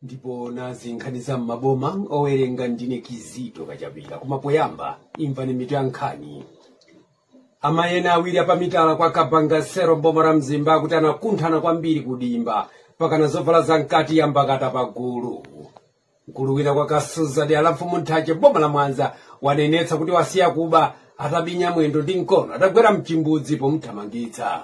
ndipo nazi nkhani za m'maboma owerenga ndine kizito kachapira koma poyamba imvani mitu ya nkhani amayi ena awiri apamitala kwa kabangasero mboma la mzimba akuti anakunthana kwambiri kudimba pakana zovala za mkati yambakata pagulu mkulu wina kwa kasuza dera la mfumu nthache mboma la mwanza wanenetsa kuti wasiya kuba atabinya mwendo ndi mkono atagwera mchimbudzi pomuthamangitsa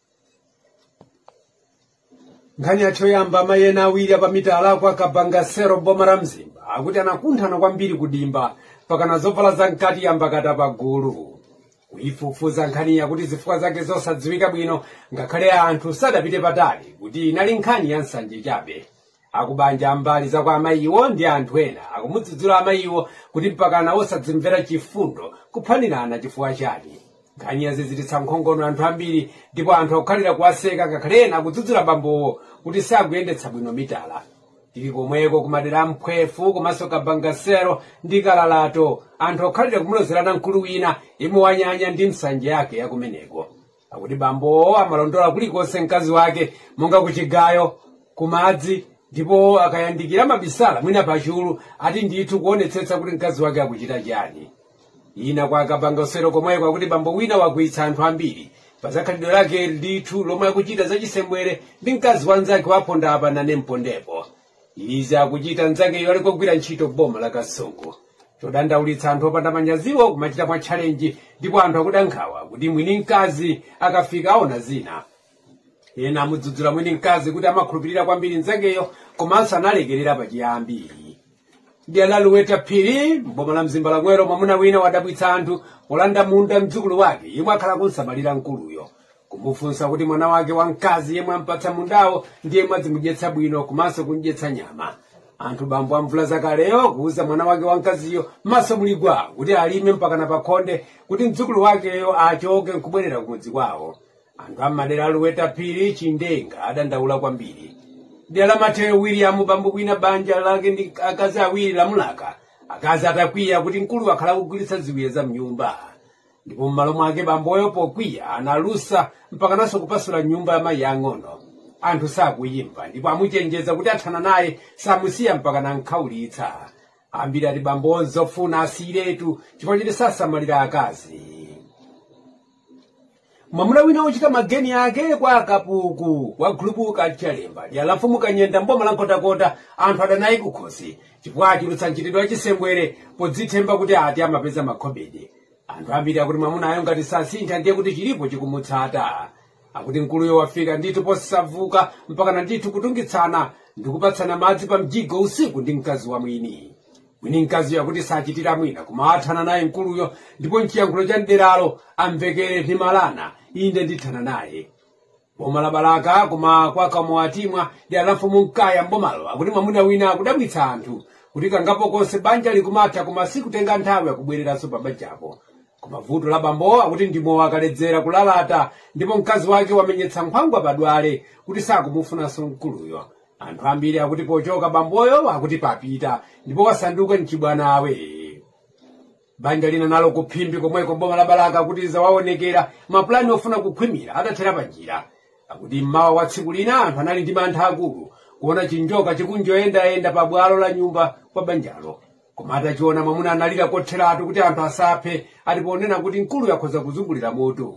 nkhani yathu yoyamba amayi ena awiri apamitala kwa kabangasero mboma la mzimba akuti anakunthana kwambiri kudimba pakana zovala za mkati yambakata pagulu kuyifufuza nkhani yakuti zifukwa zake zosadziwika bwino ngakhale anthu sadapite patali kuti inali nkhani ya nsanje chabe akubanja a mbali za kwa amayiwo ndi anthu ena akumudzudzula amayiwo kuti mpakana osadzimvera chifundo kuphanirana chifukwa chani nkhani yazizitsa nkhongono anthu ambiri ndipo anthu akukhalira kuwaseka ngakhale ena akudzudzula bambowo kuti sakuyendetsa bwino mitala tili komweko kumadera a mphwefu komanso kabangasero ndi kalalato anthu akukhalira kumulozerana mkulu wina yemwe wanyanya ndi nsanje yake ya kumeneko akuti bambowo amalondola kulikonse mkazi wake monga kuchigayo kumadzi ndipo akayandikira amabisala mwina pachulu ati ndithu kuonetsetsa kuti mkazi wake akuchita chani ina kwa kabangasero komweko akuti bambo wina wakwiyitsa anthu ambiri pazakhalidwe lake ndithu lomwe akuchita zachisembwere ndi mkazi wa mnzake waponda apa nane mpondepo izi akuchita mnzakeyo ali kogwira ntchito mboma la kasungu chodandaulitsa anthu opanda manyaziwo kumachita mwa tchalenji ndipo anthu akuda nkhawa kuti mwini mkazi akafika aona zina ena amudzudzula mwini mkazi kuti amakhulupirira kwambiri mnzakeyo komanso analekerera pachiyambi dera la luweta phiri mboma la mzimba lomwelo mwamuna wina wadabwitsa anthu polanda munda mdzukulu wake yemwe akhala akumsamalira mkuluyo kumufunsa kuti mwana wake wamkazi yemwe ampatsa mundawo ndi yemwe adzimudyetsa bwino komanso kumdyetsa nyama ati bambo a mvula zakaleyo kuuza mwana wake wamkaziyo maso muli gwa kuti alime mpakana pakhonde kuti mdzukulu wakeyo achoke nkubwerera kumudzi kwawo anthu ammadera a luweta phiri chindenga adandaula kwambiri dera la mateyo william bambo wina banja lake ndi akazi awiri lamulaka akazi atakwiya kuti mkulu akhala akugulitsa ziwiya za mnyumba ndipo m'malo mwake bamboyo pokwiya analusa mpakananso kupasula nyumba ya mayi ang'ono anthu sakuyimva ndipo amuchenjeza kuti athana naye samusiya mpakana amkhaulitsa ambiri ati bambo nzofuna asiyiretu chifukwa choti sasamalira akazi mwamuna wina wochita mageni ake kwa kapuku kwa gulupu kachalemba dera la mfumu kanyenda mboma la nkhotakota anthu adanaye kukhosi chifukwa achulutsa mchitidwe wachisembwere podzithemba kuti ati amapeza makhobidi anthu ambiri akuti mwamunayo ngati sasintha ndiye kuti chilipo chikumutsata akuti mkuluyo wafika ndithu posavuka mpakana ndithu kutungitsana ndikupatsana madzi pa mjigo usiku ndi mkazi wa mwini mwini mkaziyo akuti sachitira mwina koma athane naye mkuluyo ndipo mchiyankhulo cha mderalo amvekere ndi malana inde ndithana naye boma la balaka koma kwa kamowatimwa dera la mfumu mkaya mbomalo akuti mwamuna wina akudabwitsa anthu kuti kangapo konse banja likumatha koma sikutenga nthawi akubwereranso pa banjapo koma vuto la bambowo akuti ndi mowa akaledzera kulalata ndipo mkazi wake wamenyetsa nkhwangwa padwale kuti sakumufunanso mkuluyo anthu ambiri akuti pochoka bamboyo akuti wapita ndipo wasanduka mchibwana banja lina nalo ku phimbi komweko mboma la balaka akuti zawaonekera mapulani ofuna kukhwimira atathera pa njira akuti mmawa wa tsiku lina anthu anali ndi mantha akulu kuona chinjoka chikungoyendayenda pa bwalo la nyumba kwa banjalo koma atachiona mwamuna analira kotheratu kuti anthu asaphe ati ponena kuti mkulu yakhoza kuzungulira moto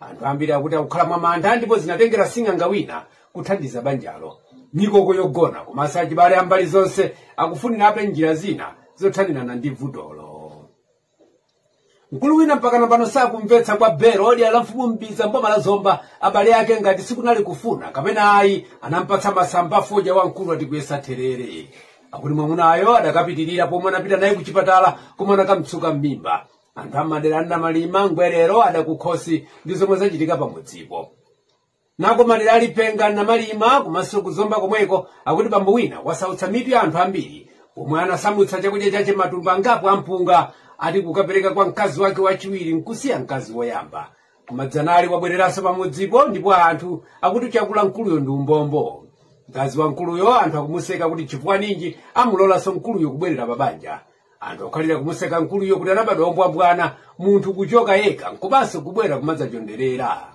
anthu ambiri akuti akukhala mwa mantha ndipo zinatengera sing'anga wina kuthandiza banjalo mikoko yogona komanso achibale ambali zonse akufunirabe njira zina zothanirana ndi vutolo mkulu wina mpakana pano sakumvetsa kwa bero dera la mfumu mbiza mboma la zomba abale ake ngati sikunali kufuna kapena ayi anampatsa masamba fodya wamkulu ati kuyesa therere akuti mwamunayo adakapitirira komwe anapita naye kuchipatala komwe anakamtsuka m'mimba anthu amadera a namalima ngwerero ada kukhosi ndi zomwe zachitika pamudzipo nako madera a lipenga namalima komanso kuzomba komweko akuti bambo wina wasautsa mitu ya anthu ambiri pomwe anasamutsa chakudya chache matumba angapo ampunga ati kukapereka kwa mkazi wake wachiwiri nkusiya mkazi woyamba koma dzanali wabwereranso pamudzipo ndipo anthu akuti chakula mkuluyo ndi umbombo mkazi wa mkuluyo anthu akumuseka kuti chifukwa ninji amulolanso mkuluyo kubwerera pabanja anthu akhalira kumuseka mkuluyo kuti anabadwa ombwambwana munthu kuchoka yekha nkubanso kubwera kumadzachonderera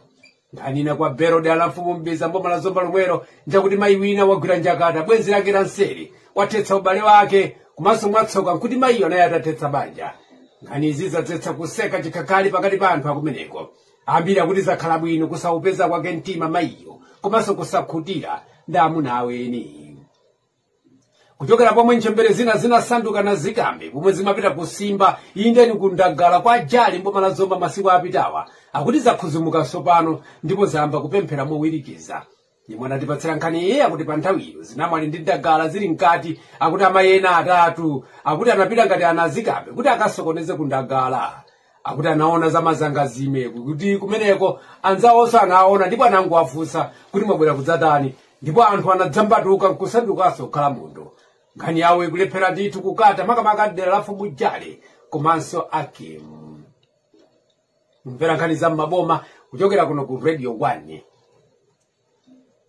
nkhani ina kwa bero dera la mfumu mbiza mboma la zomba lomwelo njakuti mayi wina wagwira njakata bwenzi lake la nseri lathetsa ubale wake komanso mwatsoka nkuti mayiyo anali atathetsa banja nkhani izi zadzetsa kuseka chikhakhali pakati pa anthu akumeneko ambiri akuti zakhala bwino kusaugwira kwake mtima mayiyo komanso kusakhutira ndi amuna a eni kuchokera pomwe ntchembere zina zinasanduka anazikambe pomwe zimapita kusimba indeni ku ndagala kwa jali mboma la zomba masiku apitawa akuti zakhuzumuka tsopano ndipo zayamba kupemphera mowirikiza yemwe anatipatsira nkhaniyi akuti pa nthawi iyo zinamwali ndi ndagala zili mkati akuti amayi ena atatu akuti anapita ngati anazikambe kuti akasokoneze ku ndagala akuti anaona za mazangazime kuti kumeneko anzawonso anaona ndipo anangowafunsa kuti mwabwera kudzatani ndipo anthu anadzambatuka nkusandukanso kukhala munthu nkhani yawo ikulephera ndithu kukata makamaka dera la mfumu jale komanso akimu mukumvera nkhani za m'maboma kuchokera kuno ku radio 1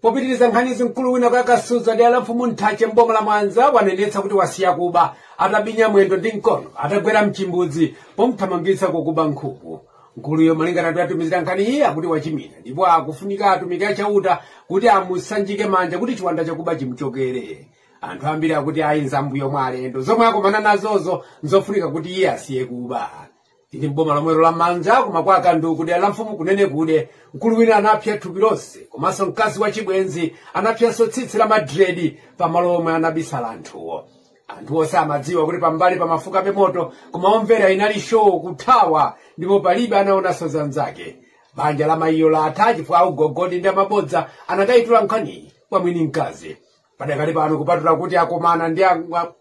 popitiriza nkhanizi mkulu wina kwa kasuza dera la mfumu nthache mboma la mwanza wanenetsa kuti wasiya kuba atabinya mwendo ndi mkono atagwera mchimbudzi pomthamangitsa kokuba nkhuku mkuluyo malingana ndi atumizira nkhaniyi akuti wachimina ndipo akufunika atumiki a chauta kuti amusanjike manja kuti chiwanda chakuba chimchokere anthu ambiri akuti ayi nza m'mbuyo mwa alendo zomwe akomana nazozo nzofunika kuti iye asiye kuba tili m'boma lomwelo la mwanza koma kwa kanduku dera la mfumu kunenekude mkulu wina anapsa thupi lonse komanso mkazi wa chibwenzi anapsanso tsitsi la madredi pamalo omwe anabisala anthuwo anthuwo samadziwa kuti pambali pamafukabe moto koma omvera inali show kuthawa ndipo palibe anaonanso zanzake banja la mayiyo latha chifukwa augogodi ndi amabodza anakayitula nkhaniyi kwa mwini mkazi padakali pano kupatula kuti akomana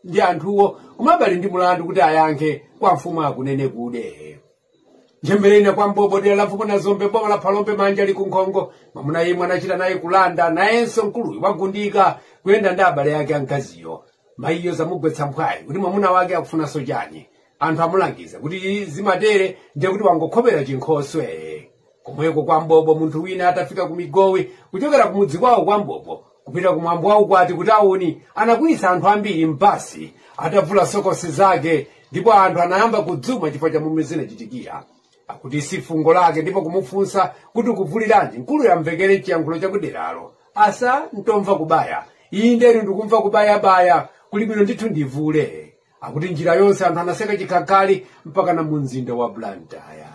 ndi anthuwo komabe ali ndi mulandu kuti ayankhe kwa mfumu a kunenekude ntchembere ina kwa mbobo dera la mfumu nazombe boma la phalombe manja ali ku nkhongo mwamuna yemwe anachita naye kulanda nayenso mkuluyu wagundika kuyenda ndi abale ake a mkaziyo mayiyo zamugwetsa mphwayi kuti mwamuna wake akufunanso chani anthu amulangiza kuti zimatere ndiye kuti wangokhomera chinkhoswe komweko kwa mbobo munthu wina atafika ku migowi kuchokera ku mudzi kwawo kwa mbobo kupita ku mwambo waukwati ku tauni anakwiyitsa anthu ambiri m'basi atavula sokosi zake ndipo anthu anayamba kudzuma chifukwa cha momwe zinachitikira akuti si fungo lake ndipo kumufunsa kuti ukuvuliranji mkuluyo amvekere chiyankhulo chakuderalo asa ntomva kubaya iyi nderi ndikumva kubayabaya kuli bwino ndithu ndivule akuti njira yonse anthu anaseka chikhakhali mpaka na mu mzinda wa blantyre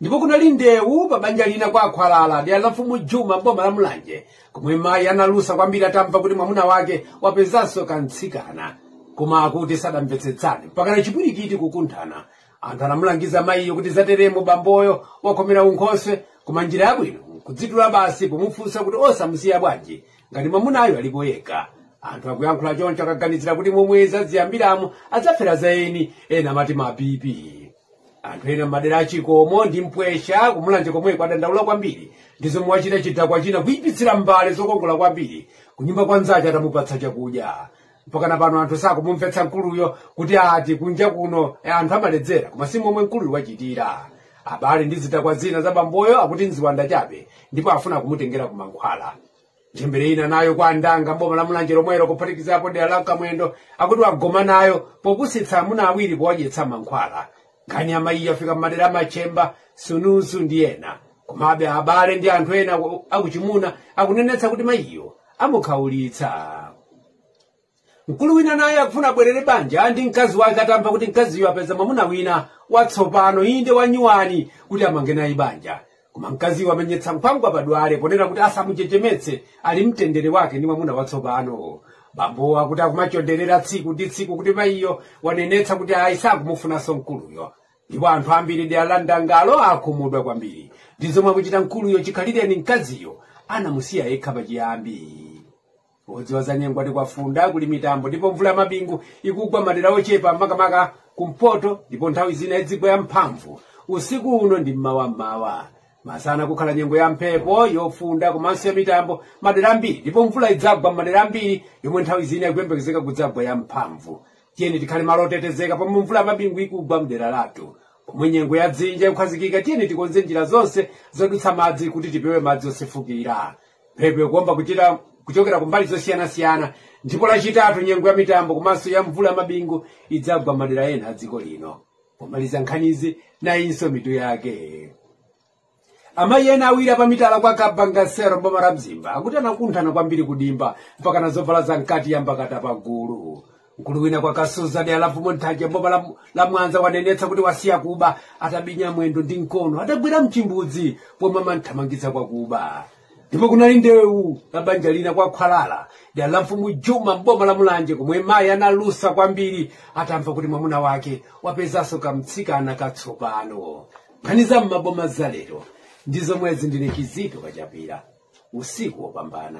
ndipo kunali ndewu pa banja lina kwa akhwalala dera la mfumu juma boma la mulanje komwe mayi analusa kwambiri atamva kuti mwamuna wake wapezanso kamtsikana koma akuti sadamvetsetsane mpaka na chipwirikiti kukunthana anthu anamulangiza mayiyo kuti zateremo bamboyo wakhomera unkhoswe koma njira yabwino nkudzitula basi pomufunsa kuti osamusiya bwanji ngati mwamunayo alipo yekha anthu akuyankhula choncho akaganizira kuti momwe zaziyambiramo adzafera za eni ena amati ma bp anthu ena m'madera a chikomo ndi mpwesha kumulanje komweko adandaula kwambiri ndi zomwe wachita chidakwa china kuyipitsira mbale zokongola kwambiri kunyumba kwa nzache atamupatsa chakudya mpakana pano anthu sakumumvetsa mkuluyo kuti ati kunja kuno anthu amaledzera koma si momwe mkuluyo wachitira abale ndi zidakwa zina za bamboyo akuti nziwanda chabe ndipo afuna kumutengera kumankhwala ntchembere ina nayo kwa andanga boma la mulanje lomwelo kuphatikizapo dera la kamwendo akuti agoma nayo popusitsa amuna awiri powadyetsa mankhwala nkhani ya mayiyo yafika m'madera a machemba sunuzu ndi ena komabe abale ndi anthu ena akuchimuna akunenetsa kuti mayiyo amukhaulitsa mkulu wina naye akufuna abwerere banja ndi mkazi wake atamva kuti mkaziyo apeza mwamuna wina watsopano inde wanyuwani kuti amange naye banja koma mkaziyo amenyetsa nkhwangwa pamwala ponena kuti asamuchechemetse ali mtendere wake ndi mwamuna watsopano bambowo akuti akumachonderera tsiku ndi tsiku kuti mayiyo wanenetsa kuti ayi sakumufunanso mkuluyo ndipo anthu ambiri dera la ndangalo akhumudwa kwambiri ndi zomwe akuchita mkuluyo chikhalirecho ni mkaziyo anamusiya yekha pachiyambi odziwa za nyengo ati kwafunda kuli mitambo ndipo mvula yamabingu ikugwa madera ochepa makamaka kumpoto ndipo nthawi zina idzigwa yamphamvu usiku uno ndi mmawammawa masana kukhala nyengo ya mphepo yofunda komanso yamitambo madera ambiri ndipo mvula idzagwa madera ambiri yomwe nthawi zina ikuyembekezeka kudzagwa yamphamvu tiyeni tikhale malo otetezeka pomwe mvula yamabingu ikugwa mdera lathu pomwe nyengo ya dzinja ikukhazikika tiyeni tikonze njira zonse zodutsa madzi kuti tipewe madzi osefukira mphepo ikuomba kuchokera kumbali zosiyanasiyana ndipo lachitatu nyengo ya mitambo komanso ya mvula ya mabingu idzagwa madera ena a dziko lino pomaliza nkhanizi nayinso mitu yake amayi ena awiri apamitala kwa kabangasero mboma la mzimba akuti anakunthana kwambiri kudimba mpaka nazovala za mkati yambakata pagulu mkulu wina kwa kasuza dera la mfumu nthanje mboma la mwanza wanenetsa kuti wasiya kuba atabinya mwendo ndi mkono atagwera mchimbudzi pomwe amamthamangitsa kwa kuba ndipo kunali ndewu la banja lina kwa khwalala dera la mfumu juma mboma la mulanje komwe mayi analusa kwambiri atamva kuti mwamuna wake wapezanso kamtsikana katsopano nkhani za m'maboma zalero ndi zomwezi ndine kizito kachapira usiku wopambana